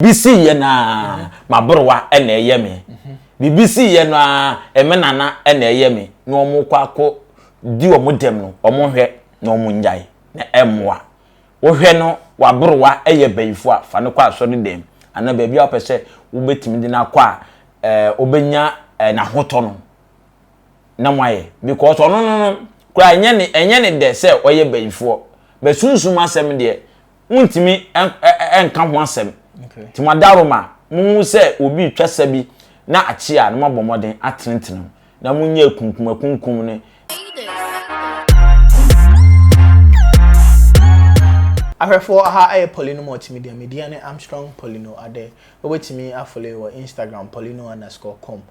Biribi siiɛ no ara, m'aborowa na ɛyɛ me. Biribi siiɛ no ara, me nana na ɛyɛ me. Na wɔkɔ akɔ di wɔn dɛm no, wɔhwɛ na wɔnyae, na ɛmmoa. Wohwɛ no w'aborowa yɛ bayifoɔ a, fa no kɔ asɔredɛm anaa baabi a wopɛ sɛ wobɛtumi de no akɔ a ɛɛ ɔbɛnya n'ahotɔ no na moayɛ. Because ɔno no no koraa ɛnyɛ ne dɛ sɛ ɔyɛ bayifoɔ. But sunsum asɛm deɛ, wontumi nka ho asɛm nti mo adarom a mohu sɛ obi retwa sa bi na akye a na moabɔ mmɔden atenetene mu na monyɛ akunkumakunkum ne Ahwɛfoɔ aha ɛyɛ Paulino Multimedia, me dia ne Armstrong Paulino Adeh, wobɛtumi afollow yɛ wɔ Instagram paulino underscore com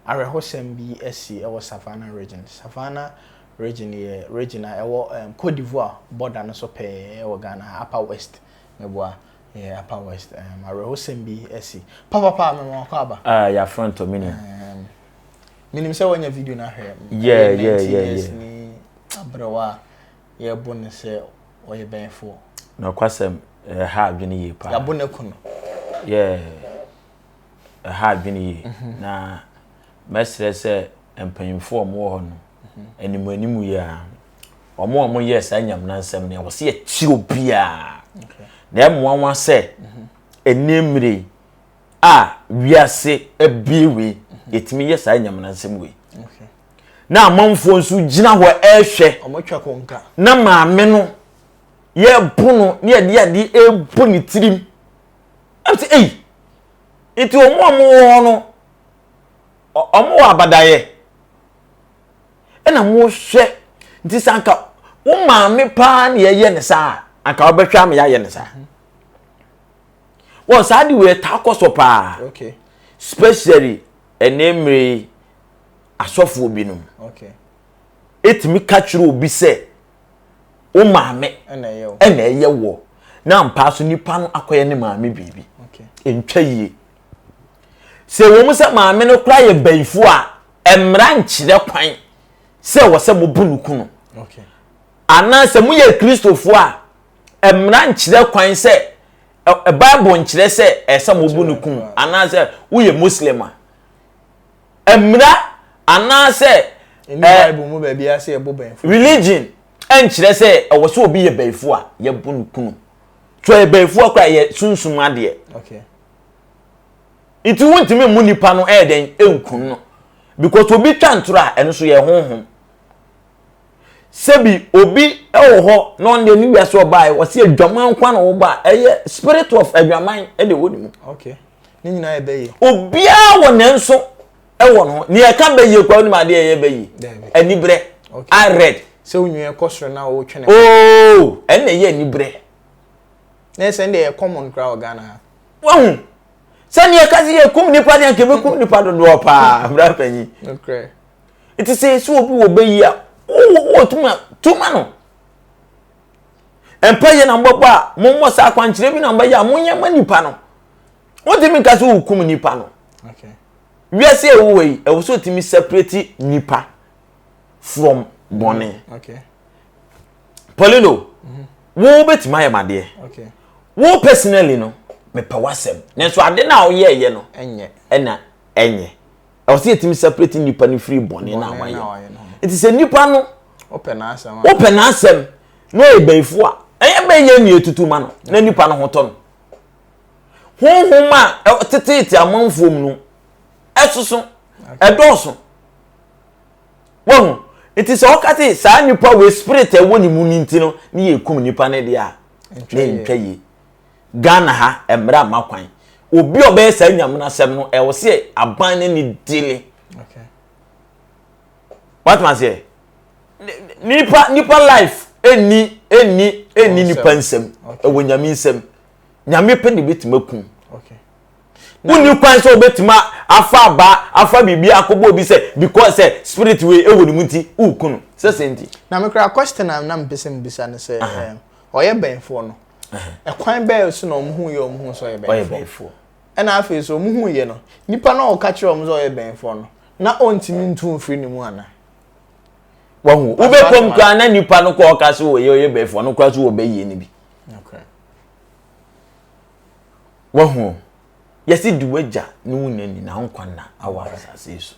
Awerɛhosɛm bi asi wɔ Savannah Region. Savannah Region yɛ region a ɛwɔ Cote d'Ivoire bɔda no so pɛɛ wɔ Ghana ha, Upper West. Meboa? Ɛyɛ Upper West. Ɛɛm, awerɛhosɛm bi asi. Papapaa, mema w'akɔ aba. Ah, yɛafrɛ ntɔ, menim. Ɛɛm, menim sɛ woanya video no ahwɛ. Yeah, Ɛyɛ yeah, 19 yeah, years yeah. ni aberewa a yɛbo no sɛ ɔyɛ bɛnfoɔ. Nokwasɛm, ɛha adwene yie paa. Yɛabo no aku no. Yeah. ɛha adwene yie mhm. na mɛsrɛ sɛ mpanyimfoɔ a wɔwɔ hɔ no mhm. anim anim yie a wɔn a wɔyɛ saa nyamena nsɛm no wɔsi akyi obiara na ɛmoa wɔn asɛ mhm. ɛnni mmiri a wiase abie wei yɛtumi yɛ saa nyamena nsɛm wei na amanfoɔ nso gyina hɔ ɛrehwɛ na maame no yɛrebo no ne yɛde ade ɛrebo ne tirim. Ɛm sɛ, Ei! Nti wɔn a wɔwɔ hɔ no, wɔwɔ abadayɛ? Ɛna mohwɛ, nti sɛ anka wo maame paa na yɛyɛ ne saa a, anka wobɛhwɛ ama yɛayɛ ne saa. Wɔ saa de wei ɛtaa kɔ so paa. Okay. Especially ɛne mmere yi asɔfoɔ binom. Okay. Ɛtumi ka kyerɛ obi sɛ wo maame ɛna ɛyɛ wɔ na ampa so nipa no akɔyɛ ne maame biribi ntwa yie sɛ wɔn sɛ maame no kora yɛ bɛyifu a mmara nkyerɛ kwan sɛ wɔ sɛ mobu no kunu anaasɛ moyɛ kristofoɔ a mmara nkyerɛ kwan sɛ bible nkyerɛ sɛ ɛsɛ mobu no kunu anaasɛ woyɛ muslim a Mmara anaasɛ Ɛnni Bible mu baabiara sɛ yɛbo bɛnfo. Religion nkyerɛ sɛ ɛwɔ sɛ obi yɛ bɛnfo a yɛbo no kunu. Sɛ ɔyɛ bɛnfo a koraa ɛyɛ sunsum adeɛ. Okay. Nti wontumi mmu nipa no ɛyɛ dɛn ɛnkum no because obi twa ntorɔ a ɛno nso yɛ honhom. sɛbi obi wɔ hɔ na ɔno deɛ ne wiase ɔbaeɛ wɔsi adwaman nkwa na ɔba ɛyɛ spirit of adwaman ɛde wɔ ne mu. okay ne nyinaa yɛ bɛyie. obiara wɔ ne nso ɛwɔ no nea ɛka bɛyie kura onim adeɛ ɛyɛ bɛyie anibrɛ i read. sɛ onwia kɔ soro na ɔretwe ne. ooo oh, ɛnna ɛyɛ anibrɛ. na ɛsɛ ɛnna ɛyɛ common kura wɔ ghana ha. wahu sɛ nea ɛka sɛ yɛ kum nipa deɛ nka ebi kum nipa dodoɔ paa abira panyin. Enti sɛ yɛsi obi wɔ bɛ yi a, wowɔ tumi a, tu ma no. Mpa yɛ na mobɛbɔ a, mommɔ saa akwankyerɛ bi na mobɛyɛ a, monyɛ ma nipa no. Wotumi nka sɛ wokum nipa no. Wiase a ɛwɔ yi, ɛwɔ sɛ otumi separate nipa from bɔne. Mm, Paulino, mhm. wo bɛtumi ayɛ madeɛ. Wo personally no, mepɛ w'asɛm. Nanso ade no a woyɛɛyɛ no, ɛna ɛnyɛ. ɛwɔ sɛ yɛtumi separate nipa no firi bɔne no a wayɛ nti sɛ nipa no wopɛ n'asɛm na ɔyɛ bɛnfo a ɛyɛ bɛn yɛ ne ɛtutu ma no na nipa no ho tɔ no honhom a ɛtetete amanfoɔ mu no ɛsoso ɛdɔɔso wɔn nti sɛ ɔka te saa nipa wɔ spirit ɛwɔ ne mu no nti no ne yɛ kum nipa no deɛ a na ɛntwa yie Ghana ha mmara mma kwan. Obi a ɔbɛyɛ saa nyamunasɛm no, ɛwɔ sɛ aban ne ne dile. Okay. Watuma seɛ. Nipa nipa life ɛni ɛni ɛni nipa nsɛm ɛwɔ nyame nsɛm. Nyame pɛ na ebetumi akum. Okay. Wonni kwan sɛ obetumi afa aba afa biribi akɔbɔ obi sɛ because sɛ spirit wei ɛwɔ ne mu nti ukunu sɛ sɛ nti. Na mekura question a na mpɛ sɛ mbisa no sɛ ɔyɛ bɛnfoɔ no. ɛkwan bɛyɛ so na wɔn ho yɛ wɔn ho sɛ ɔyɛ bɛnfoɔ ɛna afei so wɔn ho yɛ no nipa na ɔka kyerɛ wɔn sɛ ɔyɛ bɛnfoɔ no na ɔntumi ntu mfiri ne mu ana. wɔn wobɛkɔm koraa na nipa no kɔ ɔka so ɔyɛ ɔyɛ bɛnfoɔ no koraa so wɔbɛyie no bi. wɔn yɛsi di wagya ne wo nyɛ nyinaa nkwa na awɔ asase so.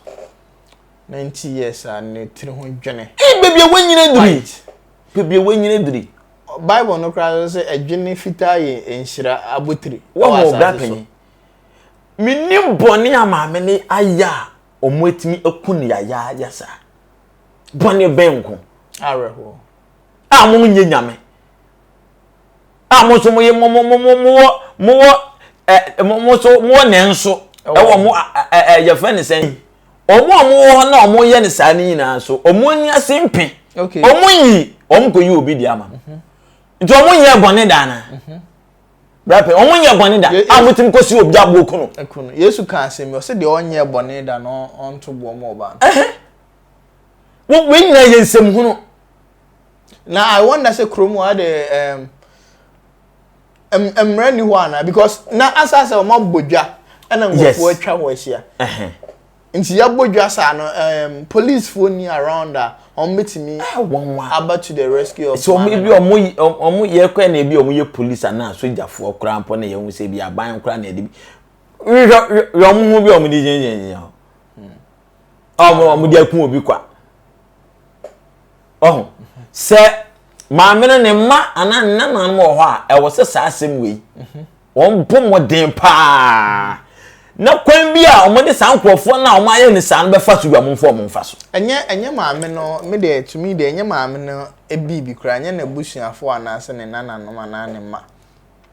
na nti yɛ saa ne tiri ho dwene. ee beebi a wanyina duri White. beebi a wanyina duri Bible no koraa no sɛ adwene fitaa yɛ nhyira abotiri wɔ wɔn asase ɔbra so. panyin menim bɔne a maame no ayɛ a wɔatumi aku no yayaaya saa bɔne bɛn nko Awerɛhoɔ. a wɔnyɛ nyame A mo nso moye mo mo mo mo mo wɔ mo wɔ ɛ mo mo nso mo wɔ nɛ nso ɛwɔ mo ɛ ɛ yɛfrɛ ne sɛn wɔn a wɔwɔ hɔ na wɔyɛ ne saa ne nyinaa nso wɔn ani ase mpe wɔn nyi wɔn kɔ yi obi di ama no mhm. nti wɔn nyɛ bɔne da ana mhm. brapɛ wɔn nyɛ bɔne da a wɔn ti kɔ si obi aboɔ kunu. ɛkunu yesu kan asɛm yi ɔsɛ deɛ ɔnyɛ bɔne da na ɔnto boɔ mu ɔbaa no. wei nyinaa yɛ nsɛm hunu. na i wonder sɛ kurom hɔ ade ɛɛm mmara ni hɔ ana because na asa sɛ wɔn abɔ dwa ɛna nkurɔfoɔ atwa hɔ ahyia nti yabɔ dwa saa no ɛɛm policefoɔ ni around a wɔn betumi aba to the rescue of so wɔn ebi wɔn wɔn yɛ kɔ na ebi wɔn yɛ police ana sogyafoɔ koraa mpɔ na yɛn ho sɛ ebi aban koraa na yɛde bi yɛ wɔn ho bi wɔn de gyinagyina. a wɔn wɔde aku obi kwa ɔho sɛ maame no ne mma anaa ne nananom wɔ hɔ a ɛwɔ sɛ saa asɛm wei wɔn bɔ mmɔden paa na kwan bi a wɔde saa nkurɔfoɔ no a wɔn ayɛ ne saa no bɛfa so bi a wɔn mfa wɔn mfa so. ɛnyɛ ɛnyɛ maame no me deɛ tumi deɛ ɛnyɛ maame no ebi bi koraa ɛnyɛ n'abusuafoɔ anaasɛ ne nananom anaa ne mma.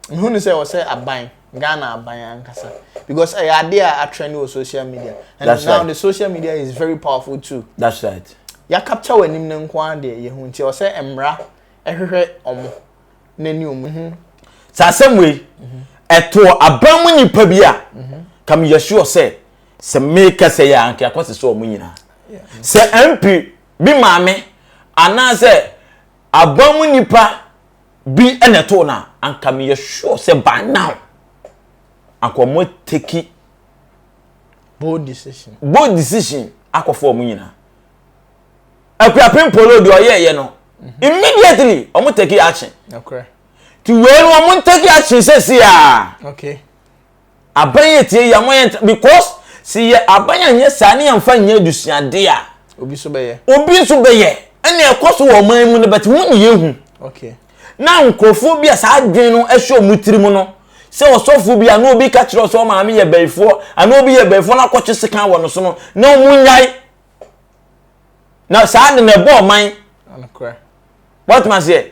Mehu no sɛ ɔsɛ aban, Ghana aban ankasa. Because ɛyɛ adeɛ a atrend wɔ social media. And That's now right. the social media is very powerful too. That's right. Ya capture wɔ anim no nko ara deɛ yɛhu nti ɔsɛ mmara ɛhwehwɛ ɔmo n'ani ɔmo. Mhm. Sɛ asɛm wei mhm. ɛtoɔ aban mu nipa bi a mhm. kam yɛ sure sɛ sɛ meka sɛ yɛ anka akɔ sɛ sɛ ɔmo nyinaa. Sɛ MP bi maame anaasɛ aban mu nipa. bi na ɛtoo no a, anka meyɛ sure sɛ by now, anka wɔn ateki bold decision bold decision akɔfa wɔn nyinaa. Akuapem Polo deɛ ɔyɛɛyɛ no, mhm. immediately wɔn take action. Ti wei no wɔn take action sɛsi a. Okay. Aban yɛ tie yɛ mo yɛ ntra because si yɛ aban yɛ nyɛ saa ne yɛ nfa nyɛ adusuade a. Obi so bɛ yɛ. Obi nso bɛ yɛ ɛna ɛkɔ so wɔ ɔman mu no bɛte ho ne yɛ hu. Okay. Na nkorɔfoɔ bi a saa adwene no ɛhyɛ ɔmo tiri mu no sɛ ɔsɔfoɔ bi a na obi ka kyerɛ ɔsɛ ɔmaame yɛ bɛyifoɔ ana obi yɛ bɛyifoɔ na akɔ twe sekan wɔ no so no na ɔmo nyae na saa ade no ɛbɔ ɔman. Nokorɛ. Wate maseɛ.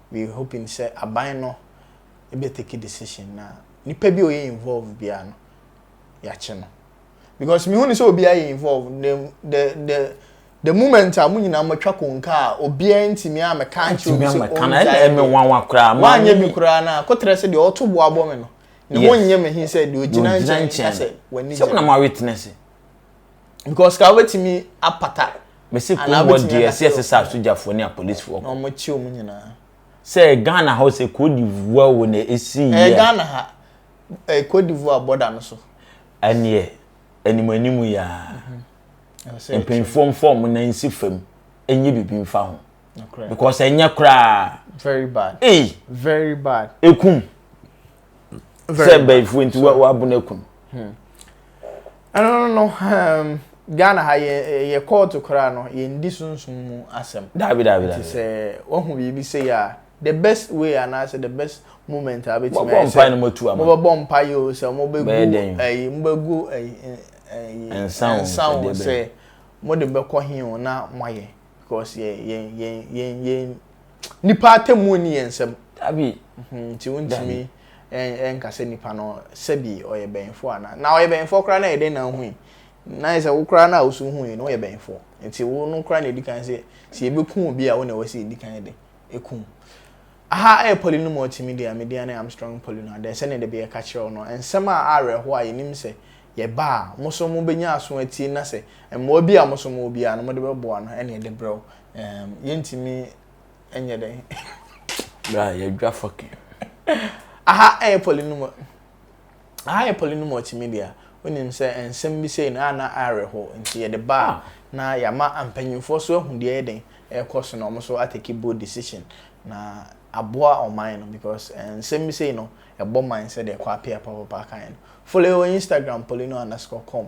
We hoping sɛ aban no bɛ take decision na nipa bi a ɔyɛ involve biara no yɛakye no because mehu ne sɛ obiara yɛ involve the the the the moment a mo nyinaa mo atwa konka a obiara ntumi a mɛka nkyerɛ obi sɛ ɔngyae me wanwa koraa ma anyɛ bi koraa na kotrɛ sɛ deɛ ɔto boa bɔ me no ne ho nyɛ me he sɛ deɛ ogyina nkyɛn ka sɛ w'ani gye sɛ na mo awe tena se because ka wobɛtumi apata mesi kurom hɔ deɛ ɛsɛ yɛse sɛ asogyafoɔ ne apolisifoɔ na wɔn kyi wɔn nyinaa sɛ Ghana hɔ sɛ Cote d'Ivoire wo na ɛsi yɛ ɛyɛ Ghana ha ɛyɛ Cote d'Ivoire border no so ɛneɛ anim anim yɛ a mpanyinfoɔ mfa wɔn nan nsi fam ɛnyɛ biribi mfa ho because ɛnyɛ koraa very bad very bad ekum sɛ bɛyifoɔ nti wabu no akunu hmm. ɛno no hmm, ghana ha yɛ kɔɔto koraa no yɛndi sunsum mu asɛm daabi daabi daabi sɛ wahu biribi sei a the best way anaasɛ the best moment a bɛtumi ayɛ sɛ mobɛbɔ mpa yi o sɛ mobɛgu ayi mobɛgu ayi nsa o sɛ mode bɛkɔ he o na moayɛ because yɛn yɛn yɛn yɛn Nipa atemmuo nni yɛn nsam. Dabi. Mhm, nti wontumi ɛnka sɛ nipa no sɛbi ɔyɛ bɛnfoɔ anaa. Na ɔyɛ bɛnfoɔ koraa na ɛyɛ dɛn na wohui? Na ayɛ sɛ wo koraa na woso hui no woyɛ bɛnfoɔ. Nti wo no koraa na ɛdi kan sɛ sɛ yɛbɛku obi a wo na ɛwɔ sɛ yɛdi kan de ɛkum. Aha ɛyɛ poly no mu ɔtumi deɛ me deɛ ne Armstrong poly no adɛn sɛdeɛ de bɛyɛ ka kyerɛ wo no nsɛm a awerɛhoɔ a yɛnim sɛ yɛba a mo so mobɛnya aso atie na sɛ mmoa bi a mo so mowɔ biara no mode bɛboa no ɛne ɛde brɛ wo. Um, yɛntumi nyɛ dɛn. Bra, yɛdwa fɔke. Aha ɛyɛ polynomo. Aha yɛ polynomo tumi deɛ. Wonim sɛ nsɛm bi sei na na awerɛho nti yɛde ba ah. na yɛama mpanyinfoɔ so ahu deɛ yɛ den ɛrekɔ so na wɔn so atake bold decision na aboa ɔman no because eh, nsɛm bi sei no ɛbɔ man sɛ deɛ kɔ apia papapa kan no. Follow wɔ Instagram polyno underscore com.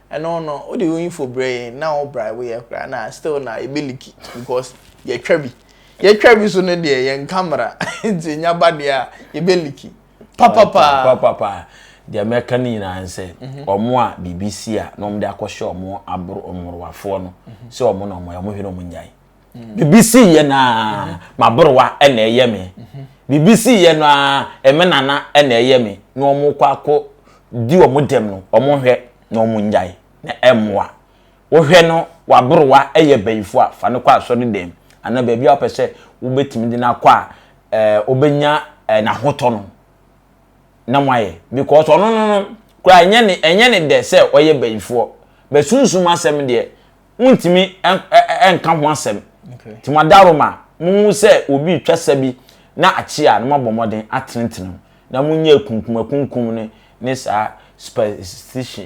Ɛno no wode wo info brɛ yɛn na wo bribe yɛ koraa na still na yɛbɛ liki because yɛtwa bi yɛtwa bi so no deɛ yɛnka mmara nti nya ba deɛ a yɛbɛ liki papapaa papapaa deɛ mɛka no nyinaa ne sɛ ɔmo mhm. a biribi si a na ɔmo de akɔhyɛ ɔmo aboro mmorowafoɔ no mhm. sɛ ɔmo na ɔmo ɔmo hwɛ na ɔmo nyae biribi sii yɛ no a m'aborowa na ɛyɛ me biribi sii yɛ no a me nana na ɛyɛ me na wɔn kɔ akɔ di wɔn dɛm no wɔn hwɛ na wɔn nnyae na ɛmmoa wohwɛ no w'aborowa yɛ bɛyifo a fa no kɔ asɔre dɛm anaa baabi a wopɛ sɛ wobɛtumi de no akɔ a ɛɛ wobɛnya ɛɛ n'ahotɔ no na mo ayɛ because ɔno no no koraa ɛnyɛ ne ɛnyɛ ne dɛ sɛ ɔyɛ bɛyifoɔ bɛsunsum asɛm deɛ wontumi nka ho asɛm nti mo adarom a mohu sɛ obi retwa sa bi na akye a na moabɔ mmɔden atenetene ho na monyɛ akunkumakunkum ne ne saa superstition